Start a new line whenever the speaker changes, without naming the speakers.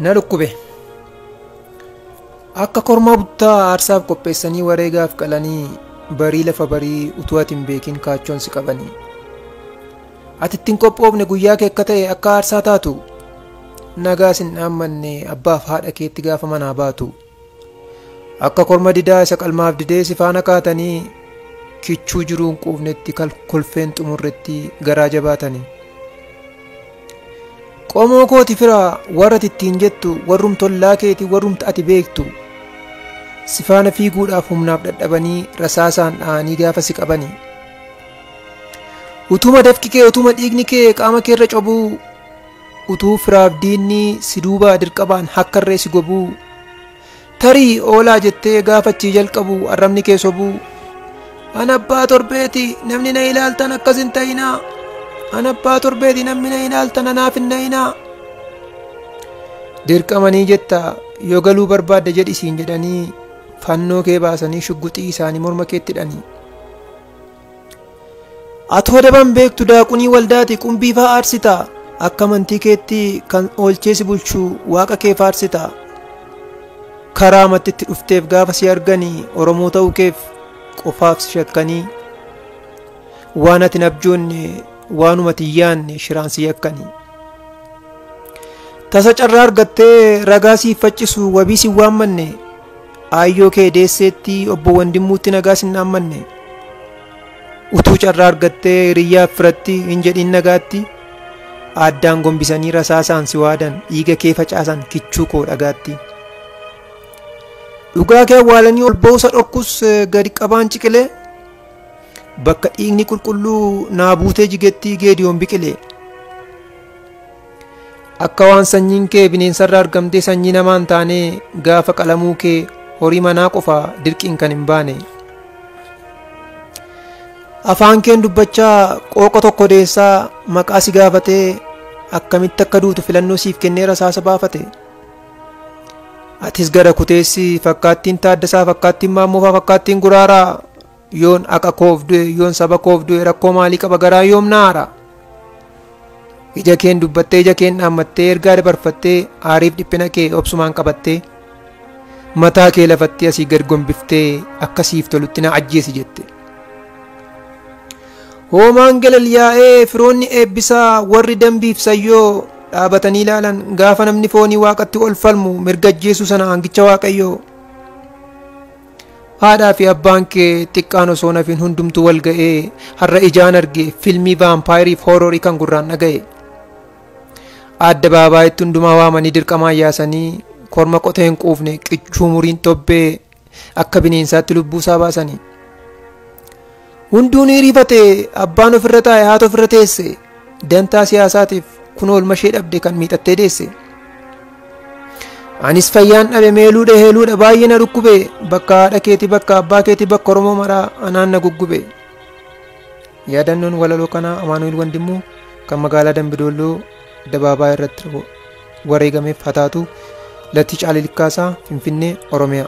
na dhukkube akka kormaa buttaa aarsaaf qopheessanii wareegaaf qalanii barii lafa barii utuu ati hin beekin kaachoon si qabanii ati ittiin qophoofne guyyaa kee akka ta'e akka aarsaa taatu nagaa sin dhaammanne abbaaf haadha keetti gaafa manaa baatu. Akka korma didaa isa qalmaaf didee si faana kaatanii kichuu jiruun quufnetti kal- kolfeen xumurretti garaa jabaatanii. Qomoo kooti firaa warra ati ittiin jettu warrum tollaa keeti warrumta ati beektu si faana fiiguudhaaf humnaaf dhadhabanii rasaasaan dha'anii gaafa si qabanii. Utuma dafqi kee utuma dhiigni kee qaama keerra cobuu Utuu firaaf diinni si duubaa dirqabaan hakkarree si gobuu Tarii oolaa jettee gaafa achii jalqabu arrabni kee sobuu An abbaa torbeeti namni na ilaaltan akkas hin ta'inaa An abbaa torbeeti namni na ilaaltan anaaf hin na'inaa Dirqamanii jetta yoo galuu barbaadda jedhi siin jedhanii fannoo kee baasanii shugguxii isaanii morma keetti hidhanii Atoo daban beektu daaqunii waldaati qumbii faa aarsita akka amantii keetti kan oolchee si bulchu waaqa kee faarsita karaa matti itti dhufteef gaafa si argani oromoo ta'uu keef qofaaf si shakkanii waan ati hin abjoonne waanuma ati hin yaanne shiraan si yakkani tasa carraa argattee ragaa siif faccisu wabii si waammanne Aayyoo kee deesseetti obbo Wandimmuutti nagaa sin dhaammanne. Utuu carraa argattee hiriyyaaf firatti hin jedhin nagaatti. Aaddaan gombisanii rasaasaan si waadan dhiiga kee facaasan kichuu koo dhagaatti. Dhugaa kee awwaalanii ol ba'uusa dhokkus gadi qabaan ciqilee. Bakka dhiigni qulqulluu naa buutee jigetti geediyoon biqilee. Akka waan sanyiin kee bineensarra argamtee sanyii namaa hin taanee gaafa qalamuu kee horii manaa qofa dirqiin kan hin baane. Afaan keen dubbachaa qooqa tokko deessaa maqaa si gaafatee akkamitti akka duutu filannoo siif kennee rasaasa baafate. Atis gara kuteessi fakkaattiin taaddasaa fakkaattiin maammoofaa fakkaattiin guraaraa Yoon aqa koof du'e yoon saba koof du'e rakkoo maalii qaba garaa yoom na aara? Ija keen dubbattee ija keen dhaammattee ergaa dabarfattee aariif dhiphina kee obsumaan qabattee mataa kee lafatti asii gad gombiftee akka siif tolutti na ajjeesi jette. Hoomaan galal yaa'ee firoonni eebbisaa warri dambiif sayyoo dhaabatanii ilaalan gaafa namni foonii waaqatti ol falmu mirga ajjeesuu sana aangicha waaqayyoo Haadhaa fi abbaan kee xiqqaan osoo nafin hundumtu wal ga'ee har'a ijaan arge filmii vaampaayirii fi hooroorii kan gurraan dhaga'e. Adda baabaayitti hundumaa waamanii dirqamaan yaasanii korma qotee hin quufne qichuu muriin tobbee akka bineensaatti lubbuu isaa baasanii. Hunduu ni rifate abbaan ofirra taa'e haati ofirra teesse dantaa siyaasaatiif kun oolma ishee dhabde kan miixattee deesse. Anis fayyaan dhabe meeluudha heeluudha baay'ee na dhukkube bakka haadha keetii bakka abbaa keetii bakka Oromoo maraa anaan na guggube. Yaadannoon walaloo kanaa Amaanu'el Wandimmuu kan magaalaa Dambidoolloo dabaabaa irratti wareegameef hataatu Latii Caalii Likkaasaa Finfinnee Oromiyaa.